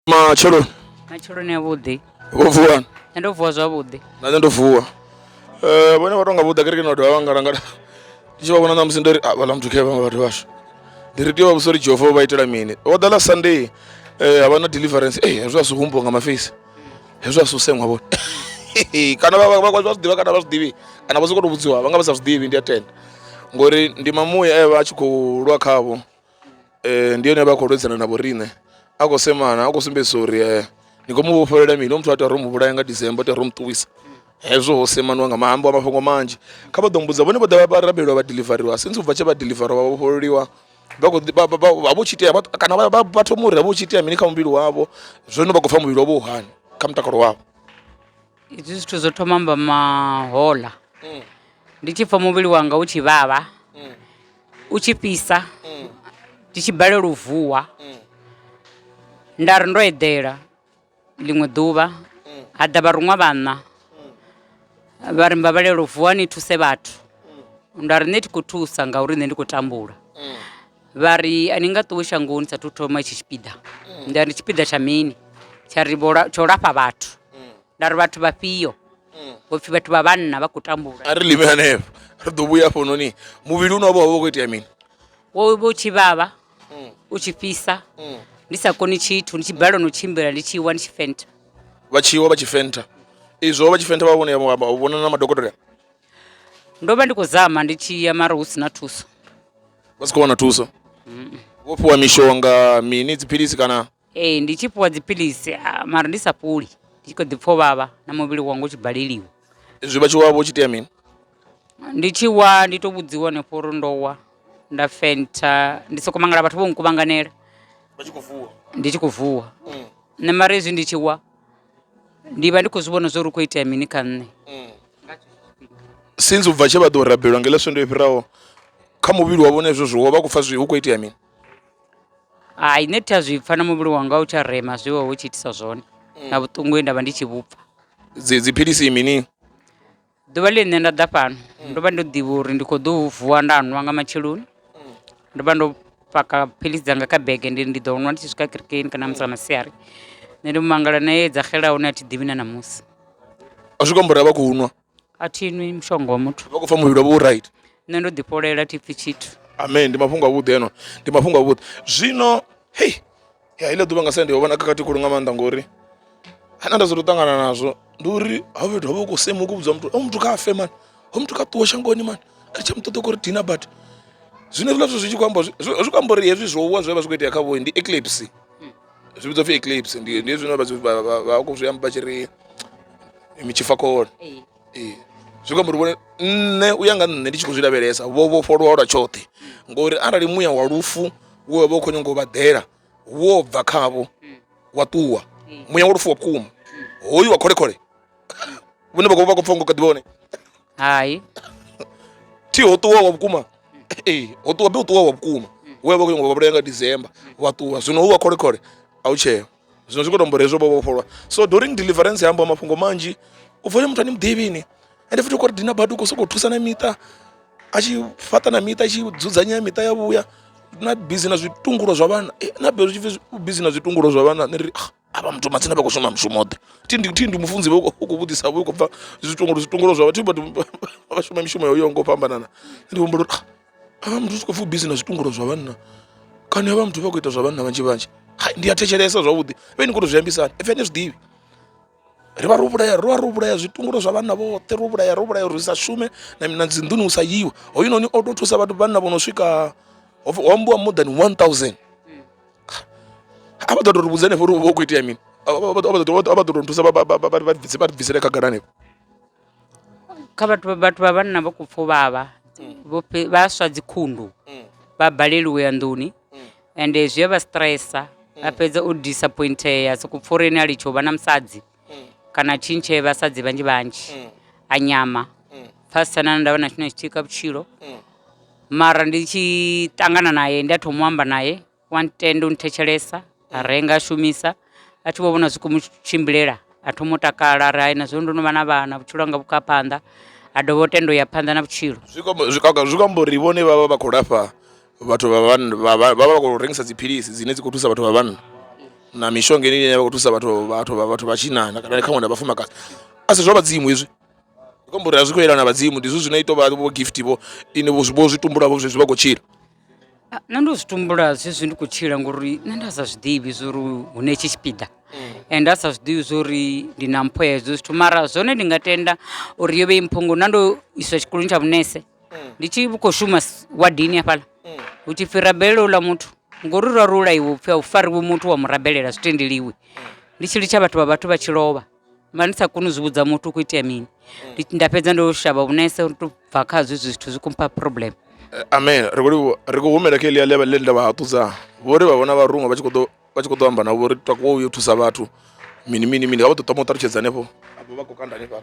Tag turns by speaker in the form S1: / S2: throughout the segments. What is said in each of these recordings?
S1: matsheloni matsheloni a vhuḓi vho vuwa nṋe
S2: ndo vuwa zwavhuḓi
S1: na nṋe ndo vuwa
S2: um vhone vha tonga vhuḓa kerekeni vha dovha vha ngalangala ndi tshi vha vhona ṋamusi ndo ri a vhaḽa muthu khe vhaṅwe vhathu vhashu ndi ri tea u vha vhusa uri jehova vha itela mini vho ḓa ḽa sunday um ha vha na deliverance ee hezwo a si humbuwa nga mafesi hezwo a si u seṅwa vhone kana vha- vha- vha- vha zwi ḓivha kana vha zwi ḓivhi kana vha sokou tou vhudziwa vha nga vha sa zwi ḓivhi ndi a tenda ngori ndi mamuya e vha a tshi khou lwa khavho ndi yone vha khou lwedzana na vho riṋe a khou semana a khou sumbedzisa uri ni khou mu vhofhelela mini hoyu muthu a tea ro mu vhulaya nga December tea ro mu ṱuwisa hezwo ho semaniwa nga maambo a mafhungo manzhi kha vha ḓo mbudza vhone vho ḓa vha rabeliwa vha deliveriwa since ubva tshe vha deliveriwa vha vhofhololiwa vha khou vha vho tshi itea kana vha thoma uri vha vho tshi itea mini kha muvhili wavho zwino vha khou pfha muvhili wavho u hani kha mutakalo wavho izwi
S1: zwithu zwo thoma mba mahola mm. ndi tshi pfha muvhili wanga u tshi vhavha mm. u tshi fhisa ndi tshi balelwa u vuwa nda ri ndo eḓela ḽiṅwe ḓuvha ha ḓa vharuṅwa vhanna vha ri mbabalelo u vuwa ni thuse vhathu nda ri nṋe thi khou thusa ngauri nṋe ndi khou tambula vha ri a ni nga ṱuwe shangoni sathu thoma itshi tshipiḓa nda ri tshipiḓa tsha mini tsha ri tsho lafha vhathu nda ri vhathu vhafhio hopfi vhathu vha vhanna vha khou tambula a ri limi hanefho
S2: ri ḓo vhuya hafhanoni muvhili une wa vha wa vha u khou itea mini wo vha u tshi
S1: vhavha u tshi fhisa ndi sa koni tshithu ndi tshi balelwa no tshimbila ndi tshi wa ndi tshi fenta vha tshiwa vha tshi
S2: fenta izwo vha tshi fenta vha vhone ya vha- vha- vhona na madokotela
S1: ndo vha ndi khou zama ndi tshi ya mara hu si na thuso vha
S2: si khou wana thuso vho fhiwa mishonga mini dziphilisi kana Ee, ndi tshi fhiwa
S1: dziphilisi ah, mara ndi sa fholi ndi tshi kho ḓi pfha u vhavha na muvhili wanga u tshi baleliwa zwi vha tshi wavha u
S2: tshi itea mini ndi tshi
S1: wa ndi to vhudziwa hanefho uri ndo wa nda fentha ndi soko mangala vhathu vho nkuvhanganela vha tshi khou vuwa ndi tshi khou vuwa nṋe mara hezwi ndi tshi wa ndi vha ndi khou zwi vhona zwo ri khou itea mini kha nṋe
S2: since u bva tshe vha ḓo rabelwa ngeḽa swendo i fhiraho kha muvhili wavho na hezwo zwiwo vha khou pfha zwi hu khou itea mini
S1: Hai nṋe thi a zwi pfha na muvhili wanga a u tsha rema zwe wa vha u tshi itisa zwone na vhuṱungu he nda vha ndi tshi vhu pfha. Dzi dziphilisi
S2: mini. Ḓuvha
S1: ḽe nṋe nda ḓa fhano ndo vha ndo ḓivha uri ndi kho ḓo vuwa nda nwa nga matsheloni, ndo vha ndo paka philisi dzanga kha bege ndi ri ndi ḓo nwa ndi tshi swika kerekeni kana musi nga masiari, nṋe ndi mangala na ye dza xela hone a thi ḓivhi na ṋamusi. Zwi
S2: khou amba uri a vha khou nwa. a thi nwi
S1: mushonga wa muthu vha khou pfa muvhili wavho u right
S2: nṋe ndo ḓifholela
S1: thi pfi tshithu amen ndi mafhungo avhuḓi
S2: eno ndi mafhungo avhuḓi zwino hei ya iḽa ḓuvha nga sa ndi ho vha na khakhathi khulu nga maanḓa ngori hana nda zwo ṱangana nazwo ndi uri ho fhethu ho vha khou sema khou vhudzwa muthu o muthu kha afe mani ho muthu kha ṱuwe shangoni mani ri tsha muṱoḓa kori dina but zwino hezwiḽa zwithu zwi tshi khou amba zwi khou amba uri hezwi zwo wa zwi vha zwi khou itea kha vhoi ndi eclipse zwi vhidzwa pfhi eclipse ndi ndi zwino vha zwi- vha- vha- vha khou zwi amba tshi ri mitshifakole Ee. ee zwi kwamba uri vhone nṋe u ya nga nṋe ndi tshi khou zwi lavhelesa vho vhofholowa lwa tshoṱhe ngori arali muya wa lufu wo wa vha u khou nyanga u vha ḓela wo bva khavho wa ṱuwa muya wa lufu wa vhukuma hoyu wa kholekhole vhone vha khou vha khou pfha ngo kha ḓivha hone hai thi ho ṱuwa wa vhukuma ee ho ṱuwa be u ṱuwa wa vhukuma we vha khou nyanga u vhulaya nga december wa ṱuwa zwino hu wa kholekhole a u tsheo zwino zwi khou tombora hezwo vho vhofholwa so during deliverance ya amba mafhungo manzhi u pfole muthu ani muḓivhini ende futhi u khou ri dina badi u khou sokou thusa na miṱa a tshi fhaṱa na miṱa a tshi dzudzanya miṱa ya vhuya na bizi na zwitungulo zwa vhana eh, na bizi na zwitungulo zwa vhana ni ri ah, avha muthu matsina vha khou shuma mushumo ḓe thindi thindi mufunzi vha u khou vhudzisa vha khou bva zwitongolo zwitongolo zwa vhathu vha shuma mishumo yo ngo fhambanana ndi humbula uri ah, avha muthu zwi khou pfhi busy na zwitongolo zwa vhanna kana avha muthu vha khou ita zwa vhanna vhanzhi vhanzhi hai ndi a thetshelesa zwavhuḓi vhe ni khou to zwi ambisani epfhi ane zwiḓivhi ri vha ro vhulaya ro vha ro vhulaya zwitungulo zwa vhanna vhoṱhe ro vhulaya ro vhulaya uri sa shume na dzinḓuni u sa yiwe hoyunoni o tou thusa vhathu vhanna vho no swika ho ambiwa more than 1000 a vha ḓo tou ri vhudza henefho uri hu vha hu khou itea mini a vha ḓo tou nthusa vha ri bvisele khagala henefho
S1: kha vhathu vhathu vha vhanna vha khou pfha u vhavha vho fhe- vha swa dzikhundu vha balelwa u ya nḓuni ende zwi a vha stressa a fhedza o disappointea sokou pfha uri ene a litsha u vha na musadzi mm. kana tshintshe vhasadzi vhanzhi vhanzhi mm. a nyama mm. pfasisa nana nda vha na tshine tshitika vhutshilo mm. mara ndi tshi ṱangana naye ndi a thoma u amba naye wa ntenda u nthetshelesa a mm. renga a shumisa a tshi vho vhona zwi komu tshimbilela a thoma u takala ri haina zwino ndo no vha na vhana vhutshilo anga vhukha phanḓa a dovha u tenda u ya phanḓa na vhutshilo zwi
S2: amba uri vhone vha vha vha khou lafha vhathu vha vhanna vha vha vha vha khou rengisa dziphilisi dzine dzi khou thusa vhathu vha vhanna na mishonga ine ine vha khou thusa vhathu vhathu vha vhathu vha tshinnani kana khaṅwe na vhafumakadzi a si zwa vhadzimu hezwi ndi khou amba uri a zwi khou yelana na vhadzimu ndi zwithu zwine ito vha vho gift vho ine vho zwi- vho zwi tumbula vho zwezwi vha khou tshila Ah, nṋe ndo zwi
S1: tumbula zwezwi ndi khou tshila ngori nṋe nda sa zwi ḓivhi zwa uri hune tshi tshipiḓa and nda sa zwi ḓivhi zwa uri ndi na mpho ya hezwo zwithu mara zwone ndi nga tenda uri yo vha i mpho ngori na ndo iswa tshikoloni tsha vhunese ndi tshi khou shuma s- wadini hafhaḽa hu tshi pfhi rabelele uḽa muthu ngori ra ro ulaiwa upfhi a u fariwe muthu wa mu rabelela zwi tendeliwi ndi tshi litsha vhathu vha vhathu vha tshi lovha vha ndi sa koni u zwi vhudza muthu u khou itea mini Ndi- nda fhedza ndo shavha vhunese uri to bva khazwo izwi zwithu zwi khou mpha problem Eh, amen ri khou
S2: livhuwa ri khou humela kha elia ḽe nda vha haṱudza vho ri vha vhona vharuṅwa vha tshi khou ḓo vha tshi khou ḓo amba navho uri takuwa u yo thusa vhathu mini mini mini vha vha ṱoḓa mu ṱalutshedza hanefho afho vha khou kanda hanefhala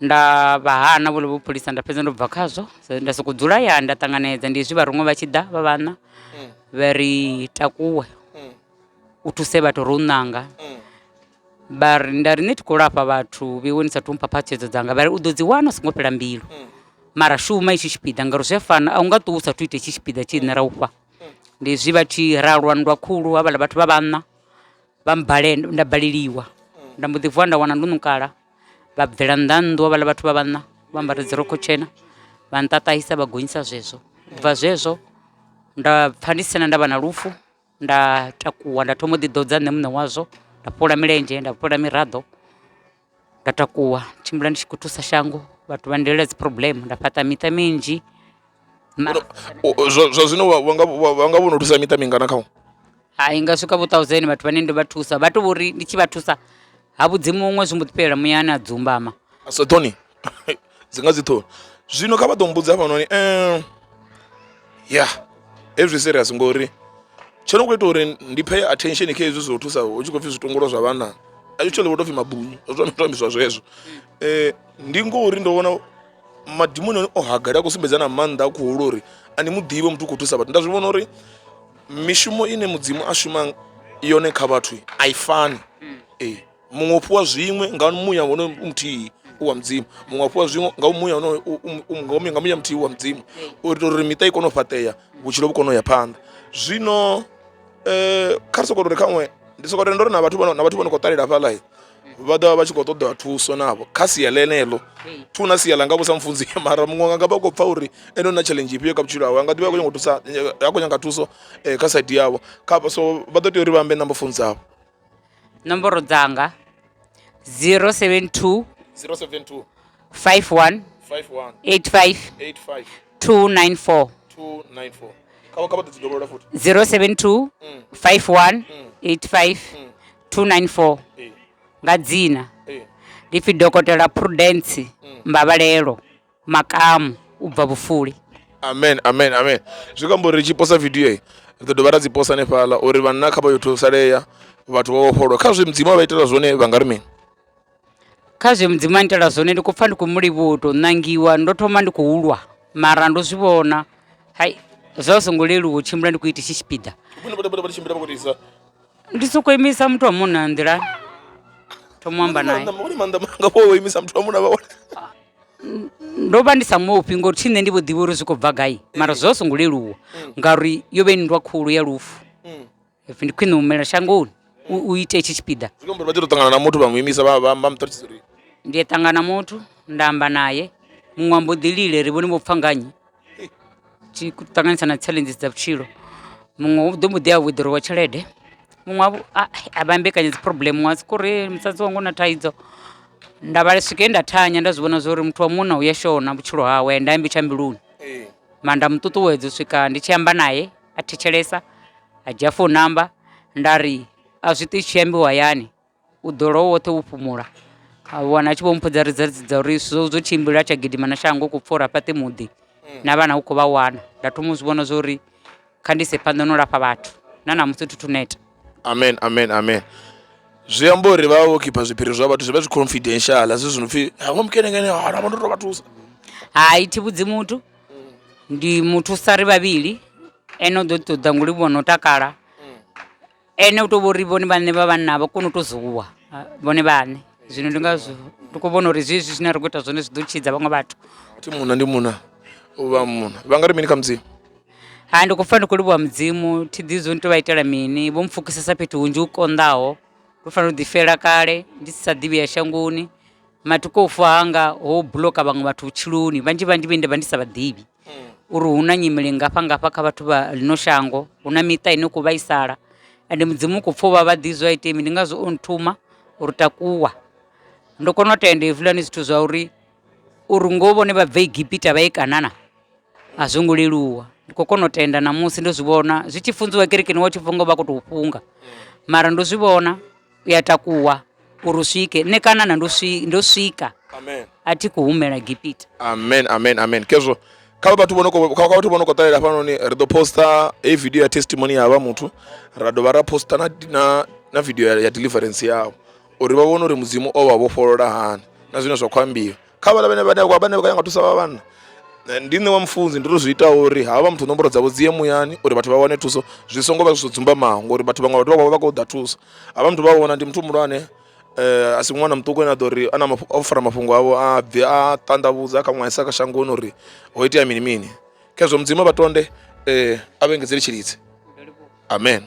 S1: nda vha hana vhone vho pholisa nda fhedza ndo bva khazwo So, nda sokou dzula ya nda ṱanganedza ndi hezwi vharuṅwe vha tshi ḓa vha vhanna vha ri takuwe u thuse vhathu ro u ṋanga vha ri nda ri ni thi khou lafha vhathu vhewe ni sa thumpha phatshedzo dzanga vha ri u ḓo dzi wana u songo fhela mbilu mara shuma itshi tshipiḓa ngauri zwi a fana a u nga ṱuwi u sa thu ita itshi tshipiḓa tshi nṋe ra ufha ndi hezwi vha tshi ra lwa nndwa khulu havhala vhathu vha vhanna vha mbalenda nda baleliwa nda mbo ḓi vuwa nda wana ndo nukala vha bvela nnḓa nnḓu vhaḽa vhathu vha vhanna vha ambara dzi rokho tshena vha nṱaṱahisa vha gonyisa zwezwo ubva zwezwo nda pfha ndi sina ndavha na lufu nda takuwa nda thoma u ḓi ḓodza nṋe muṋe wazwo nda fhola milenzhe nda fhola miraḓo nda takuwa tshimbila ndi tshi khou thusa shango vhathu vha ndelela dzi problem nda fhaṱa miṱa minzhi. mara O- o- zwa
S2: zwa zwino wa- wa nga- wa wa nga vhono thusa miṱa mingana khawo hai nga swika
S1: vho thousand vhathu vhane ndo vha thusa vha to vhori ndi tshi vha thusa ha vhudzi muṅwe zwi mbo ḓi fhelela muyani a dzumbama so tony
S2: dzi nga dzi ṱhoni zwino kha vha ḓo mbudza hafhanoni um ya hezwi serious ngori tsho no khou ita uri ndi pay attention kha hezwi zwo thusa hu tshi khou pfhi zwitongola zwa vhana actually vho tou pfhi mabunyu zwo no tou ambiswa zwezwo um ndi ngori ndo vhona madimoni o hagala a khou sumbedza na maanḓa a khuhulu uri a ni muḓivhe muthu u khou thusa vhathu nda zwi vhona uri mishumo ine mudzimu a shuma yone kha vhathu a i fani hmm. ee muṅwe u fhiwa zwiṅwe nga muya wono muthihi wa mudzimu muṅwe a fhiwa zwiṅwe nga muya wonoyo nga muya muthihi wa mudzimu hmm. u itela uri miṱa i kone u fhaṱea vhutshilo vhu kone u ya phanḓa zwino um kha ri soko ri khaṅwe ndi soko tenda uri na vhathu na vhathu vho no khou ṱalela hafhaḽa vha ḓovha vha tshi khou ṱoḓa thuso navho kha sia ḽeneḽo thu na sia ḽa nga vhusa mufunzi mara muṅwe anga vha khou pfha uri ene na challenge ifhio kha vhutshilo hawe a nga ḓivha a khou nyanga thusa a khou nyanga thuso eh, kha side yavho kha so vha ḓo tea uri vha ambe na mufunzi avho nomboro
S1: dzanga 072 072 51 51 85 85 294 294 kha vha kha vha ḓo dzi dovholola futhi 072 51 85 294 eh. nga dzina eh. ndi pfi dokotela prudence mm. mbabalelo makamu u bva vhufuli amen amen
S2: amen zwi kambo ri tshi posa video ri ḓo dovha ra dzi posa hanefhaḽa uri vhanna kha vha yo thusalea vhathu vha vhofholwa kha zwi mudzimu a vha itela zwone vha nga ri mini Kha
S1: zwe mudzimu a ngitela zwone ndi khou pfha ndi khou mu livhuwa u tou ṋangiwa ndo thoma ndi khou lwa mara ndo zwi vhona hai zwa zwi songo leluwa u tshimbila ndi khou ita itshi tshipiḓa ndi sokou imisa muthu wa munna nḓilani thoma u amba nae ndo vha ndi sa mufhi ngori thi nṋe ndi vho ḓivha uri zwi khou bva gai mara zwa zwi songo leluwa ngauri yo vha i nndwa khulu ya lufu If ndi khwine u humela shangoni u u ite itshi tshipiḓa zwi khou amba uri vha tea u tou ṱangana na muthu
S2: vha mu imisa vha vha vha mu ṱalutshedza uri ndi ṱangana
S1: muthu nda amba naye muṅwe ambo ḓi lile ri vhone vho pfha nganye tshi khou ṱanganyisa na challenges dza vhutshilo muṅwe u ḓo mbo ḓi a withdrawer tshelede muṅwe a vhu- a- a vha mbekanya dzi problem muṅwe a soko ri musadzi wanga u na thaidzo nda vha swike nda thanya nda zwi vhona zwa uri muthu wa munna u ya shona vhutshilo hawe nda ambi tsha mbiluni ee mara nda mu ṱuṱuwedza u swika ndi tshi amba naye a thetshelesa a dzhia founu namba nda ri a zwi ṱwi zwi tshi ambiwa hayani u ḓo lwa u woṱhe wo fhumula, a wana a tshi vho mmbudza ri dza dza uri zwo zwo tshimbila tsha gidima na shango u khou pfha uri a fhaṱi muḓi na vhana u khou vha wana. Nda thoma u zwi vhona zwa uri kha ndi ise phanḓa na u lafha vhathu na ṋamusi thi thu
S2: neta.
S1: amen amen amen
S2: zwi amba uri vha vha vho khipha zwiphiri zwa vhathu zwi vha zwi confidential zwi zwi no pfhi hangwe mukenekene hana vha ndo tou vha thusa Hai thi
S1: vhudzi muthu Ndi muthu sa ri vhavhili ene u ḓo ḓi ṱoḓa ngo livhuwa no takala ene u to vhori vhone vhaṋe vha vhanna vha kone u to zuwa vhone vhaṋe zwino ndi ngazwo ndi kho vhona uri zwezwi zwine ra kho ita zwone zwi ḓo tshidza vhaṅwe vhathu thi munna ndi munna
S2: u vha munna vha nga ri mini kha mudzimu ha ndi khou
S1: pfa ndi khou livhuwa mudzimu thi ḓi zwo ni to vha itela mini vho mpfukisesa fhethu hunzhi u konḓaho ndo fanela u ḓi fela kale ndi si sa ḓivhi ya shangoni matuku o fa anga ho buloka vhaṅwe vhathu vhutshiloni vhanzhi vhanzhi vhe nda vha ndi sa vhaḓivhi uri hu na nyimele ngafha ngafha kha vhathu vha ḽino shango hu na miṱa ine khou vhaisala ende mudzimu u khou pfha u vha vhaḓi zwa ite mi ndi ngazwo o nthuma uri takuwa ndo kona u tenda hezwiḽani zwithu zwa uri uri ngo vhone vha bve egipita vha ye kanana a zwo ngo leluwa ndi khou kona u tenda ṋamusi ndo zwi vhona zwi tshi funziwa kerekeni wa tshi funga u vha khou tou funga mara ndo zwi vhona u ya takuwa uri u swike nṋe kanana ndo swi ndo swika amen a thi khou
S2: humela
S1: gipita amen amen amen
S2: kezwo kha vha vhathu vho no khou- kha kha vhathu vho no khou ṱalela hafhanoni ri ḓo posta heyi video ya testimony ya vha muthu ra dovha ra posta na, na, na video ya, ya deliverance yavho uri vha vhone uri mudzimu o vha vhofholola hani na zwine zwa khou ambiwa kha vhaḽa vhane vhane vha vhane vha ya nga thusa vha vhanna ndi nṋe wa mufunzi ndi ri zwi ita uri havha muthu nomboro dzavho dzi ye muyani uri vhathu vha wane thuso zwi songo vha zwi dzumbamaho ngori vhathu vhaṅwe vhathu vha vha kho ḓa thuso havha muthu vha vhona ndi muthu muhulwane um a si ṅwana muṱuku ane a ḓo ri ana o fara mafhungo avho a bve a ṱanḓavhudza kha ṅwaisa kha shangoni uri ho itea mini mini khezwo mudzimu vha tonde um a vhe engedzele tshilidzi amen